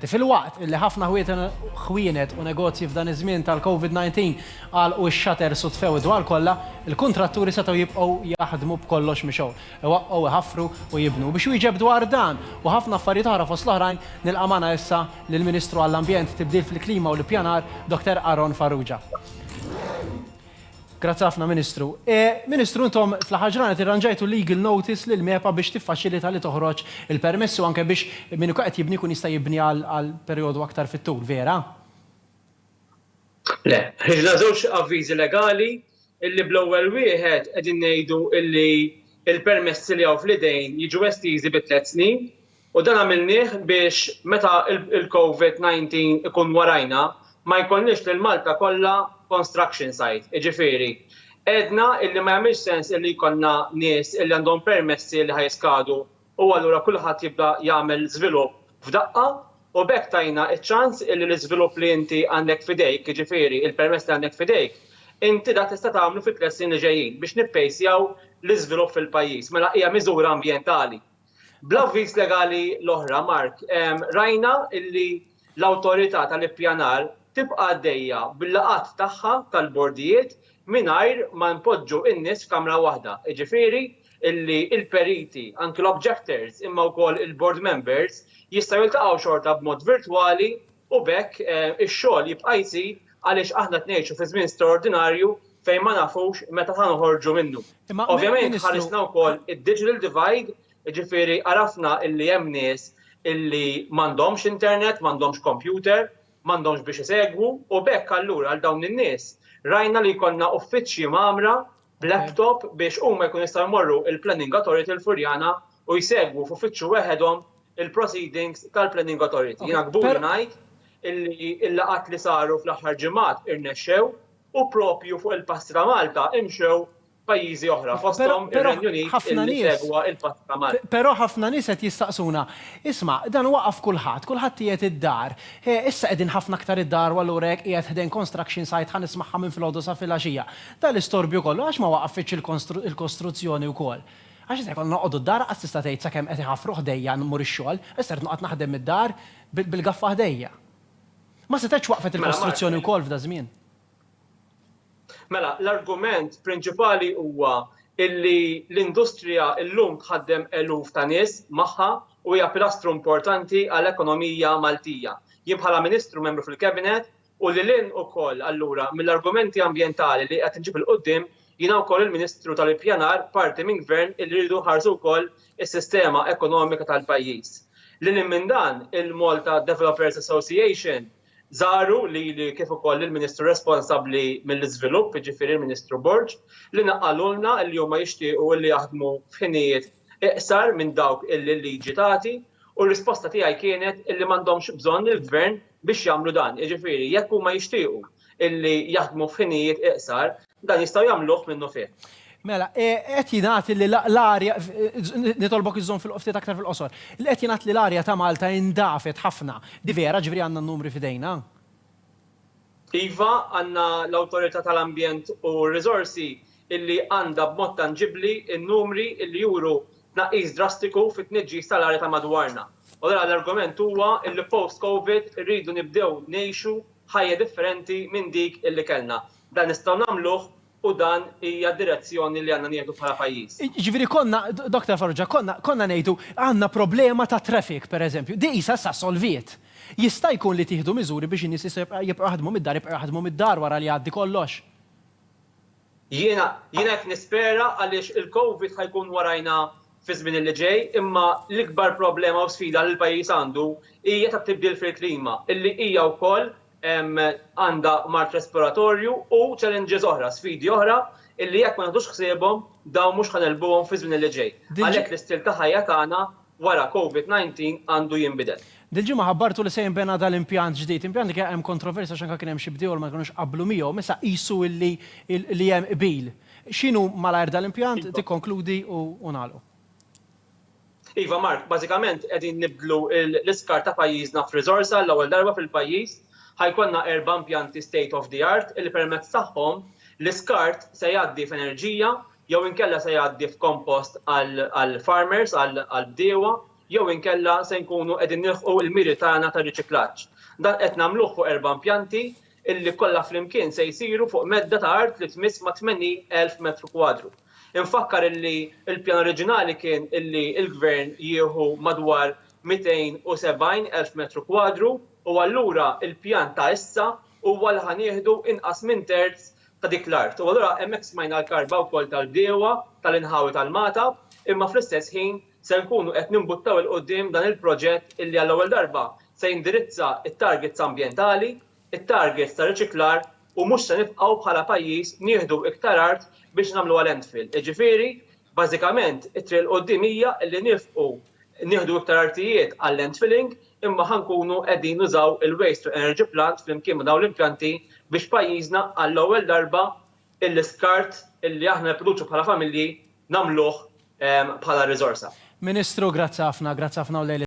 Filwaqt li ħafna ħwienet u negozji f'dan iż-żmien tal-Covid 19 għalqu x-shutters u tfew id-dwal kollha, il-kuntratturi setgħu jibqgħu jaħdmu b'kollox mixgħul, iwaqqgħu, iħaffru u jibnu. U biex iwieġeb dwar dan u ħafna affarijiet oħra fost l-oħrajn, nilqa' magħna issa lill-Ministru għall-Ambjent, Tibdil fil-Klima u l-Ippjanar, Dottor Aaron Farrugia. Grazzi ħafna Ministru. Ministru intom fl-aħħar ġranet irranġajtu legal notice lil MEPA biex tiffaċilita li toħroġ il-permessi u anke biex min ikun qed jibni jkun jista' jibni għal perjodu aktar fit-tul, vera? Le. Ħriġna żewġ avviżi legali illi bl-ewwel wieħed qegħdin ngħidu illi l-permessi li hawn fl-idejn jiġu estiżi bi tliet snin. U dan għamilnieh biex meta il-Covid 19 ikun warajna ma jkollniex lil Malta kollha construction site, jiġifieri għedna illi ma jagħmilx sens illi jkollna nies illi għandhom permessi li ħa jiskadu u allura kulħadd jibda jagħmel żvilupp f'daqqa u b'hekk tajna ċ-ċans illi l-iżvilupp li inti għandek f'idejk, jiġifieri il-permess li għandek f'idejk, inti dak tista' tagħmlu fit-tliet snin li ġejjin biex nippejsjaw l-iżvilupp fil-pajjiż. Mela hija miżura ambjentali. Bl-avviż legali l-oħra, Mark, rajna illi l-Awtorità tal-Ippjanar tibqa' għaddejja bil-laqgħat tagħha tal-bordijiet mingħajr ma npoġġu n-nies f'kamra waħda, jiġifieri illi l-periti, anki l-objectors, imma wkoll il-board members jistgħu jiltaqgħu xorta b'mod virtwali, u b'hekk ix-xogħol jibqa' jżid għaliex aħna qed ngħixu fi żmien straordinarju fejn ma nafux meta ħa noħorġu minnu. Ovvjament ħarisna wkoll id-digital divide, jiġifieri għarafna illi hemm nies illi m'għandhomx internet, m'għandhomx kompjuter, m'għandhomx biex isegwu u b'hekk allura għal dawn in-nies rajna li jkollna uffiċċji mgħammra b'laptop biex huma jkunu jistgħu jmorru il-Planning Authority l-Furjana u jsegwu f'uffiċċju weħedhom il-proceedings tal-Planning Authority. Jiena kburi ngħid illi l-laqgħat li saru fl-aħħar ġimgħat irnexxew u proprju fuq il-passi ta' Malta imxew pajjiżi oħra fosthom ir-Renju Unit illi segwa l-passi ta' Malta. Però ħafna nies qed jistaqsuna, isma', dan waqaf kulħadd, kulħadd qiegħed id-dar, issa qegħdin ħafna aktar id-dar u allura jekk qiegħed ħdejn construction site ħa nismagħha minn filgħodu sa filgħaxija. Dan l-istorbju kollu għax ma waqafitx il-kostruzzjoni wkoll? Għax issa jkollna noqogħdu d-dar lanqas tista' tgħid sakemm qed iħaffru ħdejja mmur ix-xogħol, issa rrid noqgħod naħdem mid-dar bil-gaffa ħdejja. Ma setgħetx waqfet il-kostruzzjoni wkoll f'daż-żmien? Mela, l-argument prinċipali huwa illi l-industrija llum tħaddem eluf ta' nies magħha u hija pilastru importanti għall-ekonomija Maltija. Jien bħala Ministru membru fil-Cabinet U lil hinn ukoll allura mill-argumenti ambjentali li qed inġib 'il quddiem, jiena wkoll il-Ministru tal-Ippjanar parti minn Gvern illi rridu nħarsu wkoll is-sistema ekonomika tal-pajjiż. Lil hinn minn dan, il-Malta Developers Association żaru lili kif ukoll lill-Ministru responsabbli mill-Iżvilupp, jiġifieri l-Ministru Borg, li naqqalulna li huma jixtiequ illi jaħdmu f'ħinijiet iqsar minn dawk illi l-liġi tagħti u r-risposta tiegħi kienet illi m'għandhomx bżonn il-Gvern biex jagħmlu dan, jiġifieri jekk huma jixtiequ illi jaħdmu f'ħinijiet iqsar, dan jistgħu jagħmluh minnufih. Mela, e, qed jingħad li l-arja, nitolbok iżżomm fil-qoftiet aktar fil-qosor, li qed jingħad li l-arja ta' Malta indafet ħafna. Di vera ġifieri għandna n-numri fidejna? Iva, għandna l-Awtorità tal-Ambjent u r-Riżorsi illi għandha b'mod tanġibbli n-numri illi juru tnaqqis drastiku fit-tniġġis tal-arja ta' madwarna. U allura l-argument huwa illi post Covid irridu nibdew ngħixu ħajja differenti minn dik illi kellna. Dan nistgħu nagħmluh u dan hija d-direzzjoni li għandna nieħdu bħala pajjiż. Jiġifieri konna, Doctor Farrugia, konna konna ngħidu għandna problema ta' traffic, pereżempju, din qisha issa solviet. Jista' jkun li tieħdu miżuri biex in-nies jistgħu jibqgħu jaħdmu mid-dar, jibqgħu jaħdmu mid-dar wara li jgħaddi kollox? Jiena, jiena hekk nispera għaliex il-Covid ħa jkun warajna fiż-żmien li ġej imma l-ikbar problema u sfida li l-pajjiż għandu hija tat-tibdil fil-klima illi hija wkoll għandha mard respiratorju u challenges oħra, sfidi oħra illi jekk ma nieħdux ħsiebhom dawn mhux ħa negħlbuhom fiż-żmien li ġej. Għalhekk l-istil ta' ħajja tagħna wara Covid 19 għandu jinbidel. Dil-ġimgħa ħabbartu li se jinbena dal-impjant ġdid, impjant li kien hemm kontroversja għax anke kien hemm xi bdiewa li ma kinux qablu miegħu, imma issa qisu li li hemm qbil. X'inhu malajr dal-impjant, tikkonkludi u nagħlqu. Iva Mark, bażikament qegħdin nibdlu l-iskart ta' pajjiżna f'riżors għall-ewwel darba fil-pajjiż. Ħa jkollna erba' impjanti state of the art li permezz tagħhom l-iskart se jgħaddi f'enerġija jew inkella se jgħaddi f'kompost għall-farmers, għall-bdiewa, jew inkella se nkunu qegħdin nilħqu l-miri tagħna ta' riċiklaġġ. Dan qed nagħmluh fuq erba' impjanti li kollha flimkien se jsiru fuq medda ta' art li tmiss mat-80,000 metru kwadru. Infakkar illi l-pjan oriġinali kien illi l-Gvern jieħu madwar 270,000 metru kwadru u allura l-pjan ta' issa huwa li ħa nieħdu inqas minn terz ta' dik l-art. U allura hemmhekk smajna l-karba wkoll tal-bdiewa tal-inħawi tal-Magħta, imma fl-istess ħin se nkunu qed nimbuttaw 'il quddiem dan il-proġett illi għall-ewwel darba se jindirizza t-targets ambjentali, it-targets ta' riċiklar u mhux se nibqgħu bħala pajjiż nieħdu iktar art biex nagħmluha landfill. Jiġifieri, bażikament, it-triq 'il quddiem hija illi nifqu nieħdu iktar artijiet għal-landfilling, imma ħa nkunu qegħdin nużaw il-Waste to Energy Plant flimkien ma' dawn l-impjanti biex pajjiżna għall-ewwel darba l-iskart li aħna nipproduċu bħala familji nagħmluh bħala riżorsa. Ministru, grazzi ħafna, grazzi ħafna u lejl